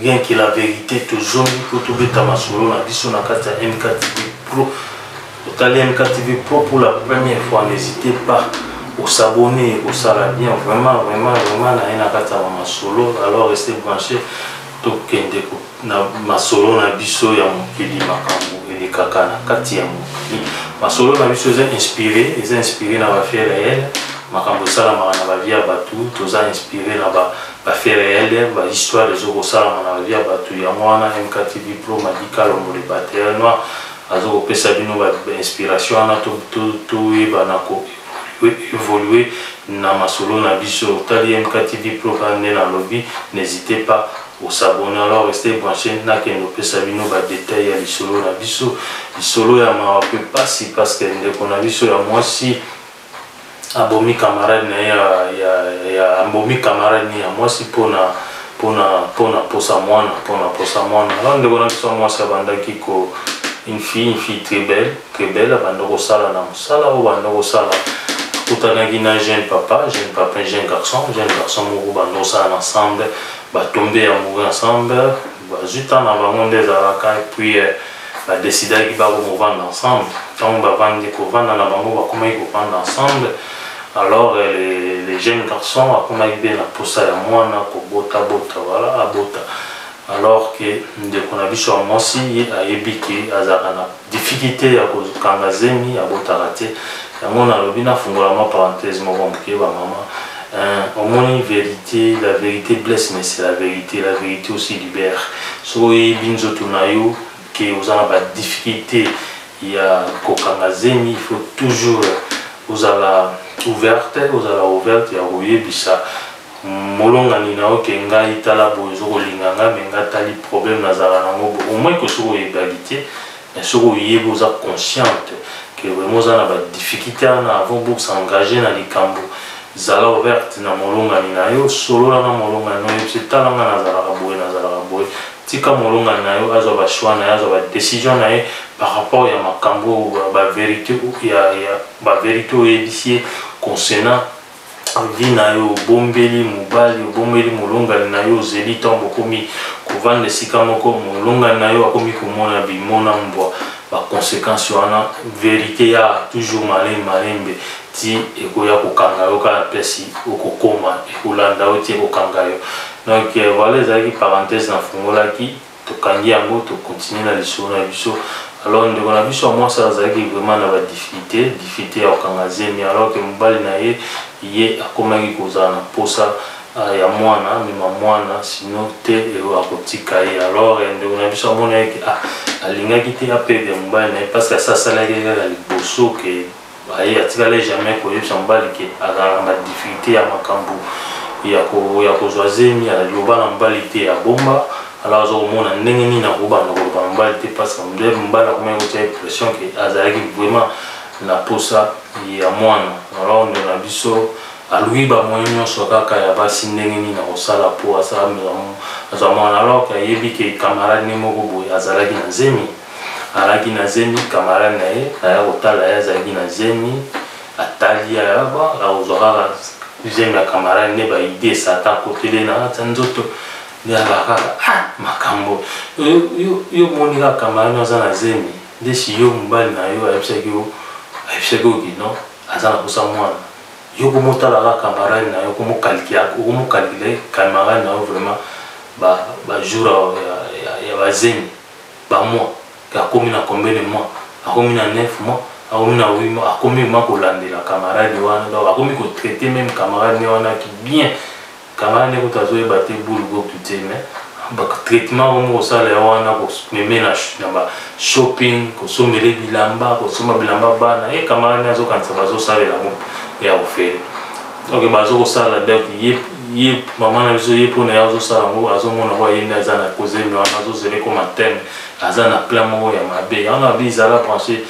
Bien que la verite tozongi mpo tobeta masolo na biso na kati ya MKTV Pro. Otali MKTV Pro pour la première fois, n'hésitez pas osabonner ekosala bien vraiment vraiment vraiment naye na kati ya bamasolo alors reste branché tokende na masolo na biso ya mokili makambo elekaka na kati ya mokili masolo na biso eza inspiré eza inspiré na bafait réel makambo esalamaka na bavie ya bato toza inspiré na ba Ba faits reels, ba histoires ezo kosalama na ba vie ya batu, yango wana MKTV Pro, Madi Kalombo le batteur noir azo kopesa bino ba inspirations wana toyeba na ko evoluer na masolo na biso. Otali MKTV Pro kaka nde nalobi, n'hesitez pas o s'abonner. Alors restez branches, nakende kopesa bino ba details ya lisolo na biso, lisolo ya mawa mpe pasi parce que ndeko na biso ya mwasi abomi camarade na ye ya, ya, ya abomi camarade ni ya mwasi pona pona pona posa mwana pona posa mwana alors ndeko na biso mwasi abandaki ko une fille une fille très belle très belle abanda kosala na mosala oyo banda kosala akutanaki na jeune papa jeune papa jeune garçon jeune garçon moko banda kosala na ensemble batombe amoureux ensemble bazwi temps na bango nde ezalaka et puis euh, ba decidaki ba ko movanda ensemble ntango bavandi kovanda na bango bakomaki kovanda ensemble alors euh, le, le jeune garçon akomaki mpe na mposa ya mwana kobota bota wala abota alors ke ndeko na biso ya mwasi ye ayebi ke azalaka na difficulté ya kokanga zemi abotaka te yango nalobi nafungola mwa parenthèse moko moke ba mama euh, omoni vérité la vérité blesse mais c'est la vérité la vérité aussi libère soki oyebi nzoto na yo ke oza na badifficulté ya kokanga zemi il faut toujours ozala ouverte ozala ouverte ya koyebisa molongani na oke ngai tala boye ozo kolinga ngai me ngai tali problème nazalaka nango bo omoi ke soki oyebaki te me soki oyebi oza consciente ke vraiment oza na badifficulté wana avant bosengage na likambo zala ouverte na molongani na yo solola na molongani na oyebisi tala ngai nazalaka boye nazalaka boye tika molongani na yo azwa bashoi na ye azwa badecision na ye par rapport ya makambo baverité baverité oyebisi ye concernant envie na yo obombeli mobali obombeli molongani na yo ozeli ntango bokomi kovanda esika moko molongani na yo akomi komona bimona mbwa baconsequence wana verite ya toujours malin malembe ti ekoya kokanga yo kaka mpesi okokoma ekolanda yo ti ekokanga yo donc euh, voilà ezalaki parenthèse nafungolaki tokangi yango to continuer na lisolo na biso alors ndeko na biso ya mwasi azalaki vraiment na badifficulté difficulté ya kokanga zemi alors ke mobali na ye ye akomaki kozala na mposa ah, ya mwana amema mwana sino te akotika ye alors eh, ndeko na biso amonaki ah, alingaki te apede mobali na ye parce que asasalaki kaka liboso ke Aye atikala jamais koyebisa mobali ke azalaka na difficulté ya makambo ya kozwa zemi aloba na mobali te abomba alors aza komona ndenge nini akobanda koloba na mobali te parce que mobali akomaki kotya ye pression ke azalaki vraiment na posa ya mwana alors ndo na biso aluki bamoye nyonso kaka ya basi ndenge nini akosala mpo azwa mwana alors ke ayebi ke camarade ne moko boye azalaki na zemi alaki na zemi camarade na ye aya kotala ye azalaki na zemi atali ayaba akozwa kaka zemi ya camarade nde baide esata akotele na kati ya nzoto nde alaka kaka ah, makambo yo moni kaka camarade aza na zemi nde si yo mobali na yo ayebisaki yo ayebisaki yo kino aza na kosa mwana yo komotala kaka camarade na yo okomokalikila camarade na yo vraiment bajour ya bazemi ba mois ke akomi na combien de mois akomi na 9 mois akomi na 8 mois akomi vraiment kolandela camarade wana donc akomi ko traiter meme camarade ne wana ki bien camarade ne kutu azoyeba te boule goku te mais traitement akomi kosala ya wana komeme na ba shopping kosombele bilamba kosomba bilamba bana ye camarade ne azokanisa bazosalela yango ya ofele ok bazo kosala donc ye ye mama na biso ye mpona ye azosala yango azomona kwa ye nde aza na kozemi wana azozela ekoma teme aza na plan moko ya mabe yango abi zala branche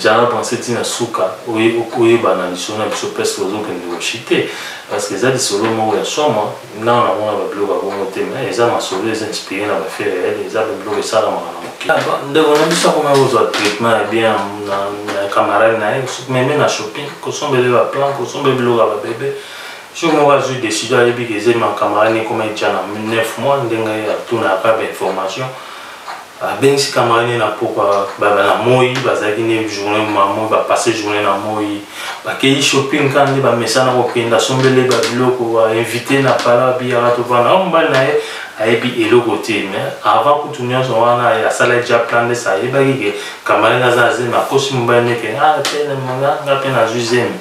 zala branche ti na suka oyebana lisolo na biso presque ozokende koshi te parce que eza lisolo moko ya somo Non, na mona ba biloko ya bongo te mais eza masolo eza inspiré na ba faits réels eza ba biloko esalamaka na mokili ah, ndeko na biso akoma kozwa traitement ya bien na camarade na ye meme na shopping kosombele ba plan kosombele biloko ya babebe soki moko azwi décision ayebi ke eza ma camarade ekoma etya na 9 mois ndenge atunaka ba information abengisi camarade ne na pokwa baba na moi bazalaki nde journée ma moi bapasse journée na moi bakei shopping kaka nde bamesana kokenda asombele babiloko bainvite na pala biyaka tovanda o mobali na ye ayebi eloko te mais avant kutu nyonso wana asala ja plan nde sa ayebaki ke camarade aza azemi akosi mobali neke nga mpe nazwi zemi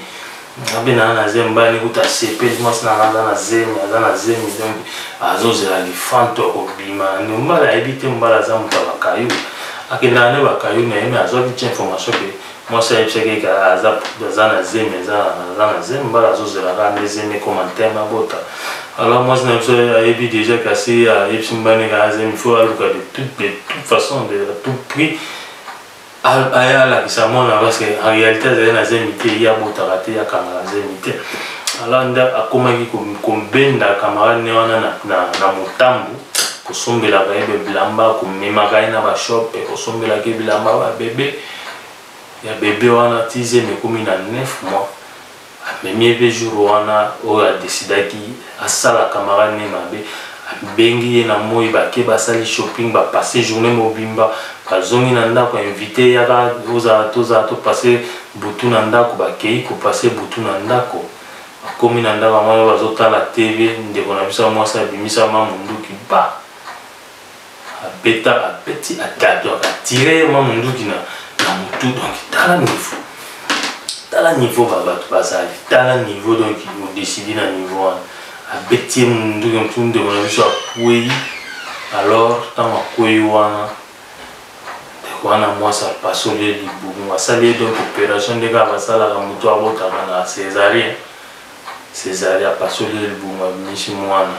nga mpe naa na zemi bani kutu asepeli mwasi na nga aza na zemi aza na zemi donc azozela lifanto ya kobima nde mbala ayebi te mbala aza moto ya bakayu akendaka nde bakayu na ye me azwaki ti information ke mwasi ayebisaki eke aza aza na zemi aza aza na zemi mbala azozela kaka nde zemi ekoma nteme abota alors mwasi na biso ayebi déjà kasi ayebisi mbani kaka zemi faut aluka de toute de toute façon de tout prix aya alakisa mwana parce que en réalité azali na zemi te ye abotaka te akangaka zemi te alors nde akomaki kobenda camarade ne wana na motambo kosombelaka ye bebilamba komemaka ye na bashope kosombelaka ye bilamba babebe ya bebe wana ti zemi ekomi na 9 mois amemi ye mpe jour wana oyo adecidaki asala camarade ne mabe abengi ye na moi bake basali shopping bapasse journée mobimba bazongi na ndako invité yaka ozala tozala topasse butu na ndako bakei kopasse butu na ndako bakomi na ndako yango bazotala tv ndeko na biso ya mwasi abimisa ma monduki ba abeta abeti atatu akatire ye mwa monduki na motu donc tala niveau tala niveau babato bazali tala niveau donc odesidi na niveau wana abeti ye monduki motu ndeko na biso akwei alors ntango akwei wana ndeko wana mwasi apasoli ye libumu asali ye donc opération nde kaka basalaka motu abotaka na césarien Cesare apasoli ye libumu abimisi mwana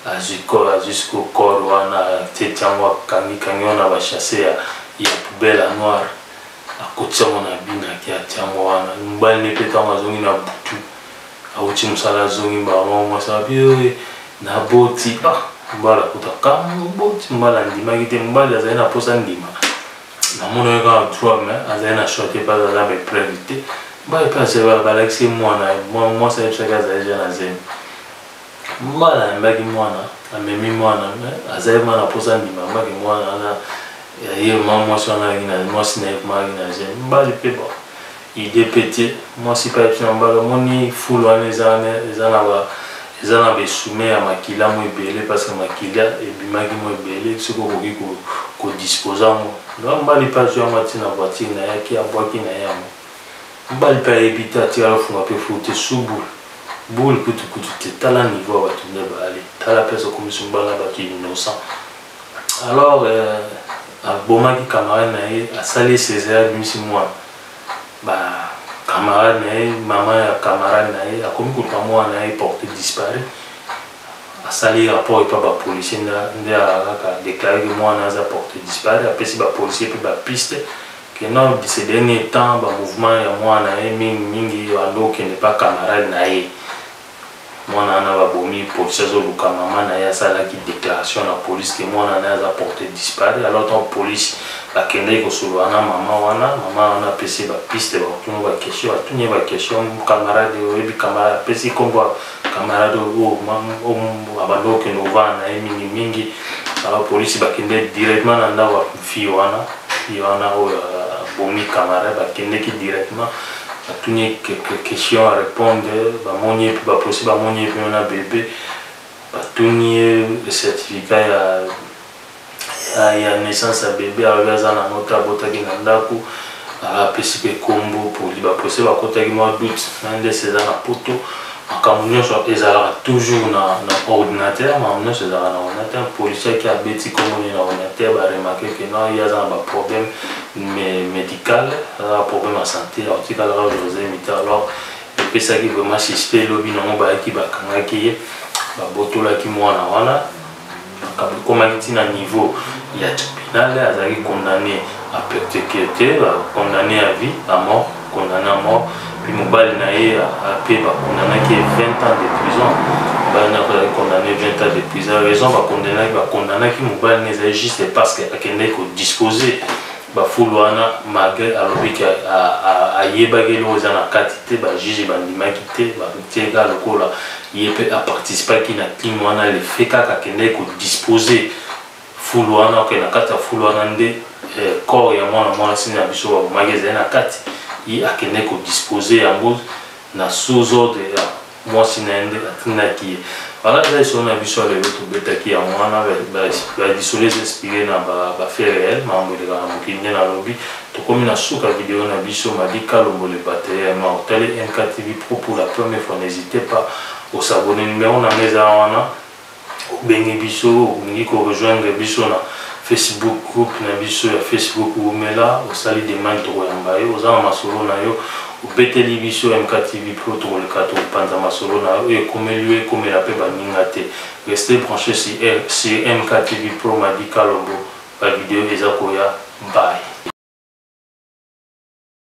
azwi corps azwi sikoyo corps wana ateti yango akangi kangi yango na bachasse ya, ya poubelle ya noire akotisi yango na binaki atia yango wana mobali ne mpe ntango azongi na butu awuti mosala azongi mbala moko mwasi abi oye naboti ah mobali akuta kama oboti mobali andimaki te mobali azali na mposa ndima namona ye kaka droit mais azali na choix te mpe azali na baepreuve te baye mpe azali balakisi ye mwana mwasi ayebisaki azali jeune azemi mbala ayambaki mwana amemi mwana azali mwana mposa ndima ambaki mwana wana ye ma mwasi wana ayaki na mwasi na ye kumayaki na jeune mbali mpe ba Idee pete mwasi pe ayebisi na mobali omoni fulu wana eza wana eza na ba eza na ba esume ya makila mwa ebele parce que makila ebimaki mwa ebele soki okoki ko ko disposer yango donc mobali pe azwi yango atie na voiture na ye ake abwaki na ye yango mobali pe ayebi te atikali kofunga pe fulu te sous boule boule kutu kutu te tala niveau ya bato nde baali tala place okomisi mobali na bato innocent alors euh, abomaki camarade na ye asali ye cesare abimisi mwana ba camarade na ye mama ya camarade na ye akomi koluka mwana na ye porte disparu asali rapport epa bapolicier nde kaka déclare ke mwana aza porte disparu apesi bapolicier mpe bapiste ke non ce dernier temps bamouvement ya mwana na ye mingi mingi bando okende pa camarade na ye mwana wana babomi policier azoluka mama na ye asalaki déclaration na police ke mwana na ye aza porte disparu alors ntango police bakendaki kosolola na mama wana mama wana apesi bapiste bakotuna baquestion batuni ye baquestion camarade oyebi camarade apesi nkombo camarade oyo abanda kokende kovanda na ye mingimingi alors polisi bakende directement na ndako ya fille wana fille wana oyo abomi camarade bakendeki directement Natuni ye quelques questions a repondre bamoni ye mpe baposi bamoni ye mpe na bebe batuni ye certificat ya ya naissance ya bebe alobi aza na mota abotaki na ndako apesi mpe nkombo poli bapose bakotaki mwa doute na ndese eza na poto makambo nyonso ezalaka toujours na, na ordinateur makambo nyonso ezalaka na ordinateur policier ki abeti kombo ne na ordinateur baremake ke non ye aza na baproblème médical aza na problème ya santé akotikalaka josé mita alors epesaki vraiment suspect lobi nango bayaki bakangaki ye babotolaki mwana wana makambo ekomaki ti na niveau ya tribunal azalaki condamné à perpétuité condamné à vie à mort condamné à mort puis mobali na ye ape bacondamnaki 20 ans de prison mobali na akozalaki condamné 20 ans de prison raison bacondamnaki bacondamnaki mobali na ezali juste parce que akendaki kodispose bafulu wana malgré alobi ke ayebaki eloko eza na kati te bajuge bandimaki te batie kaka lokola ye pe a participaki na crime wana le fait kaka akendaki ko dispose fulu wana ok na kati ya fulu wana nde eh, corps ya mwana mwasi na biso babomaki ezali na kati ye akendaki ko dispose yango na sous ordre ya mwasi na ye nde atindaki ye wana eza lisolo na biso ya lelo tobetaki yango wana badisoles inspire na bafait réel makambo elekaka na mokili nde nalobi Tokomi na suka video na biso Madi Kalombo le batteur ya Mao Tale MKTV Pro pour la première fois n'hesitez pas o s'abonner numero na nga eza wana obengi biso olingi ko rejoindre biso na Facebook groupe na biso ya Facebook wumela osali demande tokoyamba yo oza na masolo na yo obeteli biso MKTV Pro tokoleka tokopanza masolo na yo ekomeli yo ekomela mpe baninga te reste branche sur MKTV Pro Madi Kalombo Ba video eza koya bye.